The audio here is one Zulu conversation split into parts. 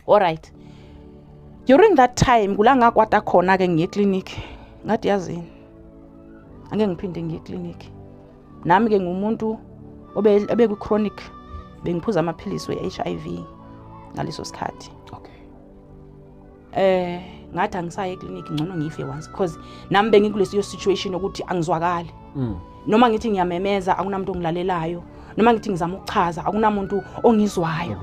alright during that time kula ngakwata khona-ke ngiye eclinic ngathi yazini ange ngiphinde ngiye eclinic nami-ke ngumuntu obekwi-chronic bengiphuza amaphilisi we-h i v ngaleso sikhathi okay. eh ngathi angisaye eclinic ngcono ngife once because nami bengikulesiyo situation yokuthi angizwakali mm. noma ngithi ngiyamemeza akunamuntu ongilalelayo noma ngithi ngizama ukuchaza akunamuntu ongizwayo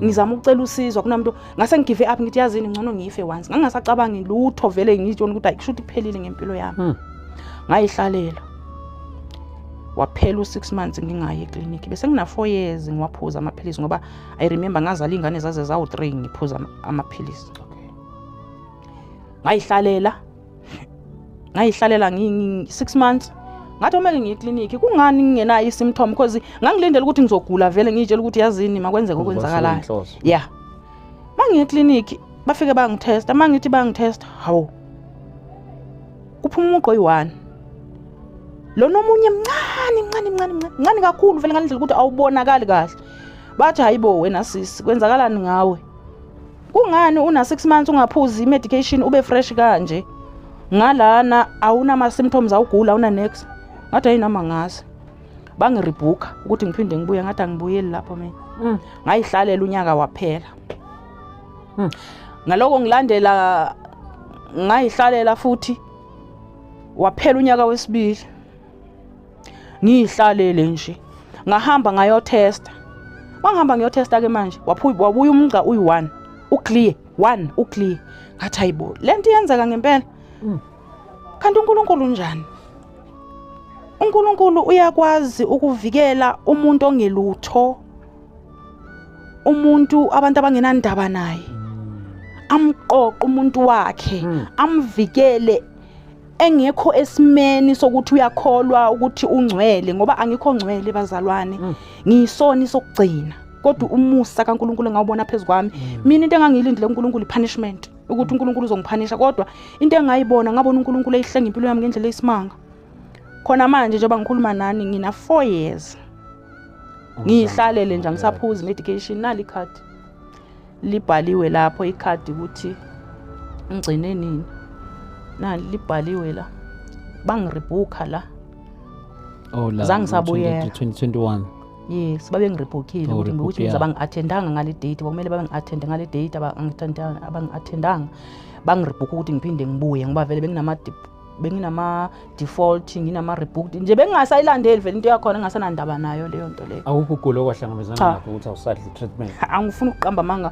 ngizama ukucela usizo akunamuntu ngase ngigive up ngithi yazini ngcono ngife once ngangasacabangi lutho vele ngitshona ukuthi ayikusho ukuthi kuphelile ngempilo yami hmm. ngayihlalela waphela u6 months ngingayi eclinic bese ngina 4 years ngiwaphuza amaphilisi ngoba i remember ngazala iy'ngane zaze zawu-three ngiphuza amaphilisi ngayihlalela ngayihlalela six months ngathi omele ngiye eklinikhi kungani ngingenayo i-symptom because ngangilindela ukuthi ngizogula vele ngiyitshela ukuthi yazini makwenzeka okwenzakalayo ya ma ngiye eklinikhi bafike bangithesta ma ngithi bangithesta hawu kuphuma umuqo oyi-one lona omunye mncane mncane mncane mncane kakhulu vele ngalindlela ukuthi awubonakali kahle bathi hayibo wena sisi kwenzakalani ngawe kungani una 6 months ungaphuzi imedication ube fresh kanje ngalana awunama symptoms awugula una next ngathi ayinama ngazi bangiribhuka ukuthi ngiphinde ngibuye ngathi angibuyeli lapho mina mm. ngayihlalela unyaka waphela mm. ngaloko ngilandela ngayihlalela futhi waphela unyaka wesibili ngiyihlalele nje ngahamba ngayothesta wangihamba ngiyothesta ke manje wabuya umgca uyi-one uclear one uclear ngathi hayibo le nto iyenzeka ngempela mm. kanti unkulunkulu unjani unkulunkulu uyakwazi ukuvikela umuntu ongelutho umuntu abantu abangenandaba naye mm. amqoqe umuntu wakhe mm. amvikele engekho esimeni sokuthi uyakholwa ukuthi ungcwele ngoba angikho ngcwele bazalwane mm. ngiyisoni sokugcina kodwa umusa kaNkuluNkulu engawubona phezu kwami mm. mina into engangiyilindile uNkuluNkulu ipunishment ukuthi uNkuluNkulu uzongiphanisha kodwa into engayibona ngabona uNkuluNkulu eyihlenga impilo yami ngendlela eyisimanga khona manje njengoba ngikhuluma nani ngina 4 years ngiyihlalele nje angisaphuzi medication nali card libhaliwe lapho ikhadi ukuthi ngigcine nini nani libhaliwe la bangiribhukha la oh la zange sabuyela 2021 yes babe ngiribhukhile ukuthi ukuthi ngiza bangi-attendanga ngale date kwakumele babe ngi-attende ngale date abangi-attendanga bangiribhukha ukuthi ngiphinde ngibuye ngoba vele benginama benginama default nginama rebooked nje bengingasayilandeli vele into yakhona engasanandaba nayo leyo nto leyo awukho ukugula okwahlangabezana nakho ukuthi awusadli treatment angifuni ukuqamba amanga